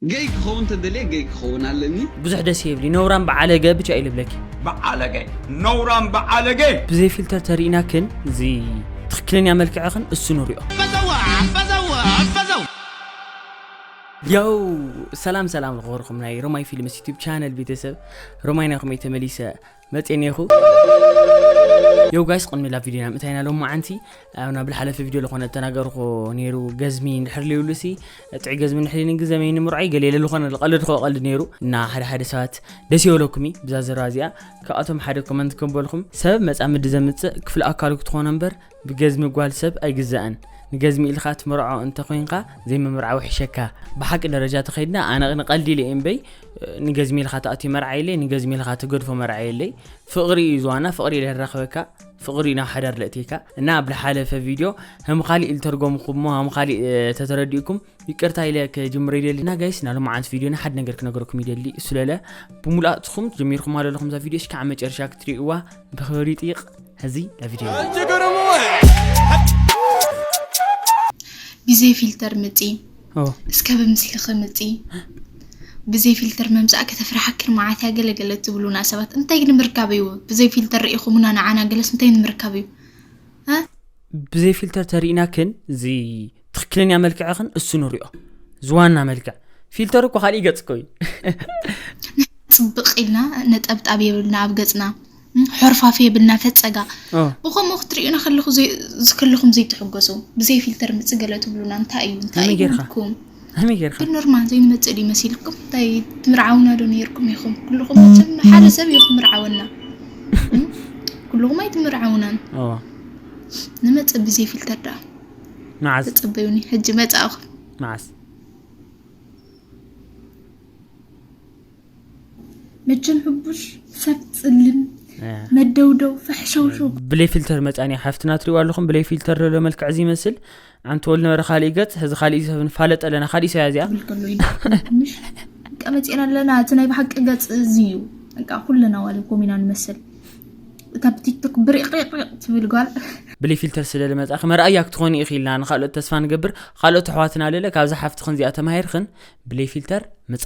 ገይ ክኸውን ተደልየ ገይ ክኸውን ኣለኒ። ብዙሕ ደስ የብሊ ነውራም ብዓለገ ብቻ እዩ ልብለኪ። ብዓለገ ነውራም ብዓለገ። ብዘይ ፊልተር ተሪኢናክን እዚ ትክክለኛ መልክዕክን እሱ ንሪኦ። ያው ሰላም ሰላም ዝኸበርኩም ናይ ሮማይ ፊልምስ ዩቱብ ቻነል ቤተሰብ ሮማይ ናይኹም እየ ተመሊሰ። መጽየ ኔርኩ ዮው ጋይስ ቅድሚ ላብ ቪድዮና ምእታይና ሎማዓንቲ ኣብ ናብ ዝሓለፈ ቪድዮ ዝኾነ ተናገርኩ ነይሩ ገዝሚ እንድሕር ልዩሉሲ ጥዑይ ገዝሚ እንድሕር ልዩኒ ግዘ መይኒ ምርዖይ ገለ ኢለ ዝኾነ ዝቐልድ ኮ ቀልድ ነይሩ እና ሓደ ሓደ ሰባት ደስ ይበለኩም እዩ ብዛ ዘረባ እዚኣ ካብኣቶም ሓደ ኮመንት ከበልኩም ሰብ መጻምዲ ዘምጽእ ክፍሊ ኣካሉ ክትኾኖ እምበር ብገዝሚ ጓል ሰብ ኣይግዛእን ንገዝሚ ኢልካ ትምርዖ እንተ ኮንካ ዘይምምርዓው ይሕሸካ ብሓቂ ደረጃ ተኸይድና ኣነ ንቀልዲ ኢለ እምበይ ንገዝሚ ኢልካ ትኣትዩ መርዓ የለይ ንገዝሚ ኢልካ ትገድፎ መርዓ የለይ ፍቕሪ እዩ ዝዋና ፍቕሪ ኢለ ራኸበካ ፍቕሪ ናብ ሓዳር ለእትካ እና ኣብ ዝሓለፈ ቪድዮ ከም ካሊእ ዝተርጎምኩሞ ከም ካሊእ ተተረዲእኩም ይቅርታ ኢለ ክጅምር ይደሊ እና ጋይስ ናይ ሎማዓንቲ ቪድዮና ሓደ ነገር ክነገረኩም ይደሊ እሱ ለለ ብሙሉኣትኩም ጀሚርኩም ኣሎ ኣለኹም እዛ ቪድዮ እስካዕ መጨረሻ ክትሪእዋ ብክብሪ ይጥይቅ ሕዚ ናብ ቪድዮ ብዘይ ፊልተር ምፂ እስከ ብምስልኺ ምፂ ብዘይ ፊልተር መምፃእ ከተፍርሓክን መዓት እያ ገለገለ ትብሉና ሰባት እንታይ ንምርካብ እዩ ብዘይ ፊልተር ርኢኹምና ንዓና ገለስ እንታይ ንምርካብ እዩ ብዘይ ፊልተር ተሪእናክን እዚ ትክክለኛ መልክዕኽን እሱ ንሪኦ ዝዋና መልክዕ ፊልተር እኮ ካልእ ገጽ ኮይኑ ፅብቅ ኢልና ነጠብጣብ የብልና ኣብ ገፅና ሕርፋፍ የብልና ፈፀጋ ብከምኡ ክትሪኡና ከለኹም ዘይትሕገሱ ብዘይ ፊልተር ምፅገለ ትብሉና እንታይ እዩ እንታይ እዩ ከመይ ጌርካ ግን ኖርማል ዘይንመጽእ ድዩ መሲልኩም እንታይ ትምርዓውና ዶ ነይርኩም ኢኹም ኩልኹም መቸም ሓደ ሰብ እዩ ክምርዓወና ኩልኹም ኣይትምርዓውናን ንመጽእ ብዘይ ፊልተር ደኣ መዓዝ ተጸበዩኒ ሕጂ መጻእኹም መዓዝ መቸም ሕቡሽ ሰብ ጽልም መደውደው ፈሕሸውሸው ብለይ ፊልተር መጻኒ ሓፍትና ትሪእዋ ኣለኹም ብለይ ፊልተር ዘሎ መልክዕ እዚ ይመስል ኣንቲ ወል ነበረ ካሊእ ገጽ ሕዚ ካሊእ ሰብ ንፋለጥ ኣለና ካሊእ ሰያ እዚኣ ትብል ከሎ ኢና ትንሽ ቀመፂና ኣለና እቲ ናይ ብሓቂ ገፅ እዚ እዩ በቃ ኩለና ዋለ ኮሚና ንመስል እታ ብቲክቶክ ብሪቅሪቅ ትብል ጓል ብለይ ፊልተር ስለ ልመፃኺ መርኣያ ክትኾኒ ኢኺ ኢልና ንካልኦት ተስፋ ንገብር ካልኦት ኣሕዋትና ልለ ካብዛ ሓፍትኽን እዚኣ ተማሂርኽን ብለይ ፊልተር ምፃ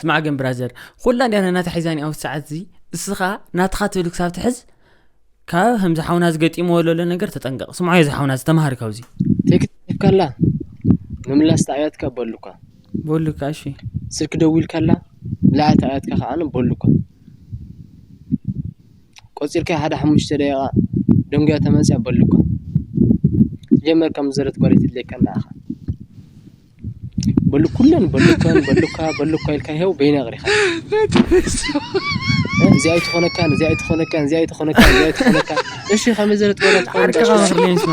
ስማዕ ግን ብራዘር ኩላ እንዲያ ነናታ ሒዛኒ ኣብዚ ሰዓት እዚ እስኻ ናትኻ ትብል ክሳብ ትሕዝ ካብ ከምዚ ሓውና ዝገጢምዎ ዘሎ ነገር ተጠንቀቕ ስምዖ እዚ ሓውና ዝተምሃር ካብዚ ከላ ምምላስ ተኣያትካ በሉካ በሉካ እሺ ስልኪ ደዊል ከላ ምልኣት ኣያትካ ከዓነ በሉካ ቆጺርካ ሓደ ሓሙሽተ ደቂቃ ደንጉያ ተመጽያ በሉ እካ ሲጀመር ከም ዝዘረት ጓል ኣይትድለየካ ኣላ ኢካ በሉ ኩለን በሉ እከን በሉ እካ በሉ እካ ኢልካ ይሄው በይነ ኣቕሪካ እዚኣ ኣይትኾነካን እዚኣ ኣይትኾነካን እዚኣ ኣይትኾነካን እዚኣ ኣይትኾነካን እሺ ከመይ ዘረት ጓል ኣይትኾነካን ዓርቅኻ መኽደን ይስማ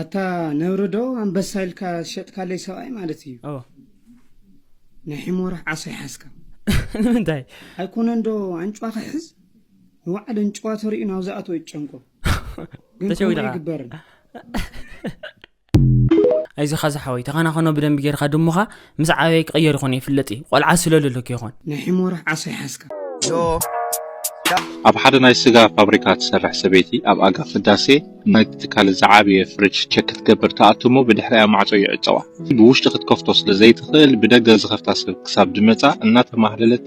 ኣታ ነብሪ ዶ ኣንበሳ ኢልካ ዝሸጥካለይ ሰብኣይ ማለት እዩ ኦ ናይ ሕሞራ ዓሳ ይሓዝካ ንምንታይ ኣይኮነን ዶ ኣንጭዋ ክሕዝ ንባዕል እንጭዋ ተሪኡ ናብ ዝኣተወ ይጨንቆ ግን ከምኡ ተሸዊድኻ ኣይግበርን ኣይዞኻ ዝሓወይ ተኸናኸኖ ብደንቢ ጌርካ ድሙኻ ምስ ዓበየ ክቕየር ይኾን ይፍለጥ እዩ ቆልዓ ስለለሎ ከይኾን ናይ ሒሞራሕ ዓሶ ይሓዝካ ኣብ ሓደ ናይ ስጋ ፋብሪካ ትሰርሕ ሰበይቲ ኣብ ኣጋ ቅዳሴ ናይቲ ትካል ዝዓበየ ፍሪጅ ቸክ ክትገብር ትኣቱ እሞ ብድሕሪኣ ማዕጾ ይዕጸዋ። ብውሽጢ ክትከፍቶ ስለ ዘይትኽእል ብደገ ዝኸፍታ ሰብ ክሳብ ዝመጻ እናተማህለለት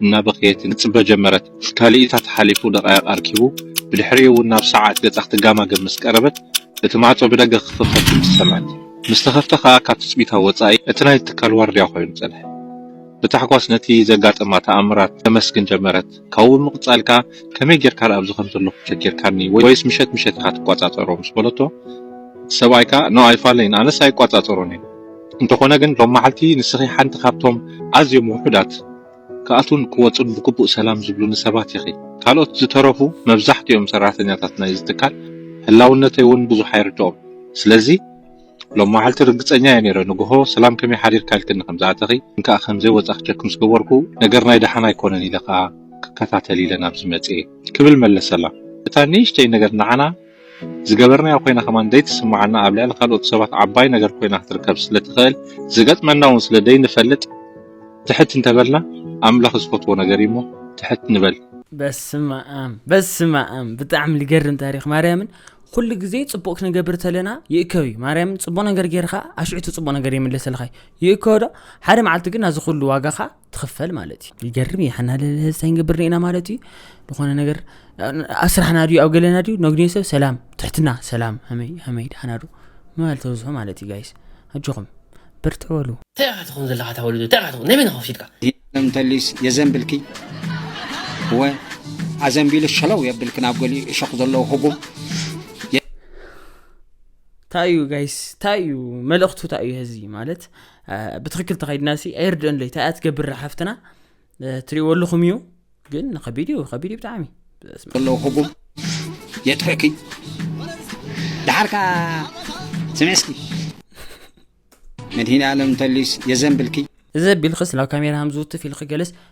እናበኸየትን ክትጽበ ጀመረት። ካልኢታት ሓሊፉ ደቓይቕ ኣርኪቡ ብድሕሪኡ እውን ናብ ሰዓት ገጻ ክትጋማገም ምስ ቀረበት እቲ ማዕጾ ብደገ ክኽፈት ድምጺ ሰምዐት። ምስ ተኸፍተ ከኣ ካብ ትጽቢታ ወጻኢ እቲ ናይቲ ትካል ዋርድያ ኮይኑ ጸንሐ። ብታሕጓስ ነቲ ዘጋጠማ ተኣምራት ተመስግን ጀመረት፣ ካብኡ ብምቕጻል ከኣ ከመይ ጌርካ ደኣ ኣብዚ ከም ዘለኹ ቸጊርካኒ ወይስ ምሸት ምሸት ኢኻ ትቆጻጸሮ ምስ በለቶ እቲ ሰብኣይ ከኣ ን ኣይፋለይን ኣነስ ኣይቆጻጸሮን እየ እንተኾነ ግን ሎምመዓልቲ ንስኺ ሓንቲ ካብቶም ኣዝዮም ውሑዳት ክኣትዉን ክወጹን ብግቡእ ሰላም ዝብሉኒ ሰባት ኢኺ። ካልኦት ዝተረፉ መብዛሕትኦም ሰራሕተኛታት ናይዚ ትካል ህላውነተይ እውን ብዙሕ ኣይርድኦም። ስለዚ ሎማዓልቲ ርግጸኛ እየ ነይረ ንግሆ ሰላም ከመይ ሓዲርካ ኢልክኒ ከም ዝኣተኺ ግን ከኣ ከምዘይ ወጻኺ ቸክ ምስ ገበርኩ ነገር ናይ ደሓን ኣይኮነን ኢለ ከኣ ክከታተል ኢለ ናብዚ መጺኤ። ክብል መለሰላ። እታ ንእሽተይ ነገር ንዓና ዝገበርናዮ ኮይና ከማን ደይትስምዓና ኣብ ልዕሊ ካልኦት ሰባት ዓባይ ነገር ኮይና ክትርከብ ስለትክእል ዝገጥመና ውን ስለ ደይንፈልጥ ትሕት እንተበልና ኣምላክ ዝፈትዎ ነገር እዩ እሞ ትሕት ንበል። በስመኣም በስመኣም ብጣዕሚ ልገርም ታሪኽ ማርያምን ኩሉ ግዜ ጽቡቅ ክንገብር ተለና ይእከብ እዩ ማርያምን ጽቡቅ ነገር ጌርካ ኣሽዑ እቲ ጽቡቅ ነገር ይምለሰልካ እዩ ይእከብ ዶ ሓደ መዓልቲ ግን ናዚ ኩሉ ዋጋኻ ትኽፈል ማለት እዩ ይገርም እዩ ሓና ለለህዝታይ ንገብር ኒኢና ማለት እዩ ዝኾነ ነገር ኣስራሕና ድዩ ኣብ ገለና ድዩ ነግንዮ ሰብ ሰላም ትሕትና ሰላም ሃመይ ሃመይ ድሓና ዶ ምባል ተብዝሑ ማለት እዩ ጋይስ ኣጆኹም ብርትዕ በሉ እንታይ ኢኻ ትኸውን ዘለኻ እታ ወለዶ እንታይ ኢኻ ትኸውን ናይ መን ኢኻ ክሽጥካ የለም ተሊስ የዘንብልኪ ወ ኣዘንቢሉ ሸለው የብልኪ ናብ ገሊኡ እሾኽ ዘለዎ ህጉም እንታይ እዩ ጋይስ እንታይ እዩ መልእኽቱ እንታይ እዩ ህዚ ማለት ብትክክል ተኸድና ሲ ኣይርድኦን ለይ ታይያ ትገብር ሓፍትና ትሪእዎ ኣለኹም እዩ ግን ከቢድ እዩ ከቢድ እዩ ብጣዕሚ ከለዉ ህቡብ የጥሕኪ ድሓርካ ስምዕስኪ መድሂን ኣለም ተሊስ የዘንብልኪ እዚ ቢልክስ ናብ ካሜራ ሃምዝውትፍ ኢልክ ገለስ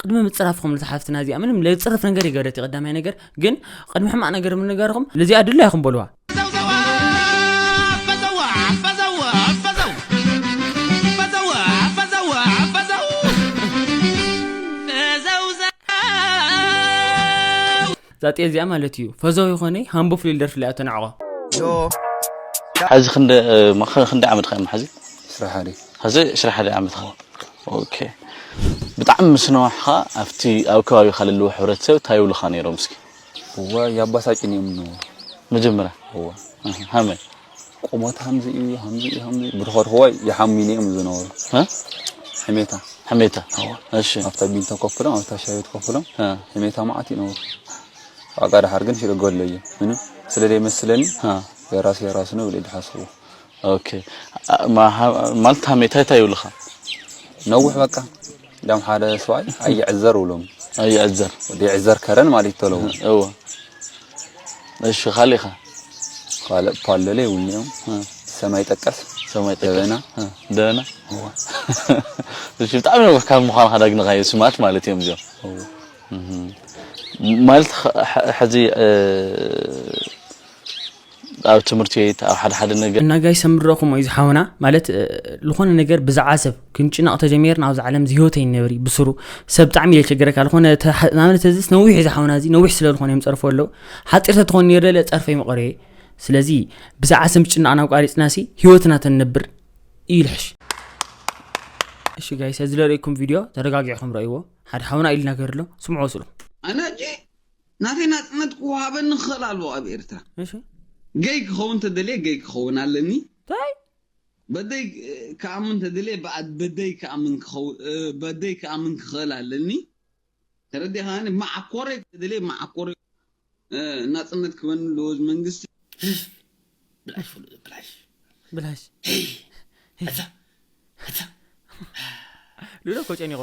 ቅድሚ ምጽራፍኩም ነቲ ሓፍትና እዚኣ ምንም ለጽርፍ ነገር ይገደት እዩ ቀዳማይ ነገር ግን ቅድሚ ሕማቅ ነገር ምንጋርኩም ልዚኣ ድላ ይኹም በልዋ እዛ ጤል እዚኣ ማለት እዩ ፈዘው ይኾነይ ሃምቦ ፍልል ደርፊ ለያ ተናዕቆ ሐዚ ክንደ ማኸ ክንደ ዓመት ኸም ሐዚ ስራሓዲ ሐዚ ስራሓዲ ዓመት ኸ ኦኬ ብጣዕሚ ምስነዋሕኻ ኣብቲ ኣብ ከባቢኻ ለለዎ ሕብረተሰብ እንታይ ይብሉኻ ነይሮም እስኪ እዋ ያባሳጭን እዮም ነው መጀመሪያ እዋ ሃመ ቁመት ሃምዚ እዩ ሃምዚ እዩ ሃምዚ እዩ ብድኾድኽዋይ ይሓሙኒ እዮም ዝነበሩ ሕሜታ ሕሜታ እሺ ኣብታ ቢንቶ ኮፍ ኢሎም ኣብታ ሻይ ቤት ኮፍ ኢሎም ሕሜታ መዓት ይነበሩ ዋጋ ድሓር ግን ሽዶ ገሎ እዩ ምንም ስለ ዘይመስለኒ የራሱ የራሱ ነው ብለ ድሓስቡ ኦኬ ማለት ሃሜታ እንታይ ይብልኻ ነውሕ በቃ ዳም ሓደ ሰብኣይ ኣይዕዘር ብሎም ኣይዕዘር ይዕዘር ከረን ማለት ተለው እወ እሺ ካልእ ከ ካልእ ፓለለ ይብሉ እዮም ሰማይ ጠቀስ ሰማይ ጠቀስ ደበና ደበና እሺ ብጣዕሚ ነው ካብ ምዃን ካዳግንካዮ ስማት ማለት እዮም እዚኦም ማለት ሕዚ ኣብ ትምህርቲ ቤት ኣብ ሓደ ሓደ ነገር። እና ጋይስ ሰምረኩሞ እዚ ሓውና ማለት ልኮነ ነገር ብዛዓ ሰብ ክንጭነቅ ተጀሚርና ኣብዛ ዓለም እዚ ሂወት ኣይንነብር እዩ ብስሩ ሰብ ብጣዕሚ ኢለ ቸገረካ ልኮነ ናብነት እዚስ ነዊሕ እዚ ሓውና እዚ ነዊሕ ስለ ልኮነ እዮም ጸርፎ ኣለው ሓጺር ተትኮን ነይሩ ደለ ጸርፈይ መቀረ እየ ስለዚ ብዛዓ ሰብ ምጭናቅ ናብ ቃሪጽና ሲ ሂወትና ተንነብር እዩ ልሕሽ እሺ ጋይስ እዚ ለርእኩም ቪድዮ ተረጋጊዕኩም ረእይዎ ሓደ ሓውና ኢሉ ነገር ኣሎ ስምዑ ወስሉ ኣናጂ ናተይ ናጽነት ክወሃበኒ ክኽእል ኣለዎ ኣብ ኤርትራ። እሺ ገይ ክኸውን ተደልየ ገይ ክኸውን ኣለኒ። ታይ በደይ ክኣምን ተደልየ ብኣድ በደይ ክኣምን ክኸውን በደይ ክኣምን ክኽእል ኣለኒ። ተረዲእኻኒ? መዓኮረይ ተደልየ መዓኮረይ ናጽነት ክበኒ ኣለዎ እዚ መንግስቲ። ብላሽ ፍሉ ብላሽ ብላሽ ኣታ ኣታ ሉሎ እኮ ጨኒቆ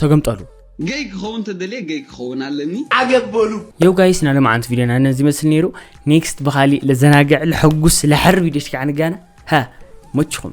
ተገምጠሉ። ገይ ክኸውን ተደልየ ገይ ክኸውን ኣለኒ። ዓገብ በሉ። የው ጋይስ ናይ ሎምዓንቲ ቪድዮና ነዚ ይመስል ነይሩ ኔክስት ብካሊእ ለዘናግዕ ለሐጉስ ለሐር ቪድዮች ከዓ ንጋና ሃ መችኹም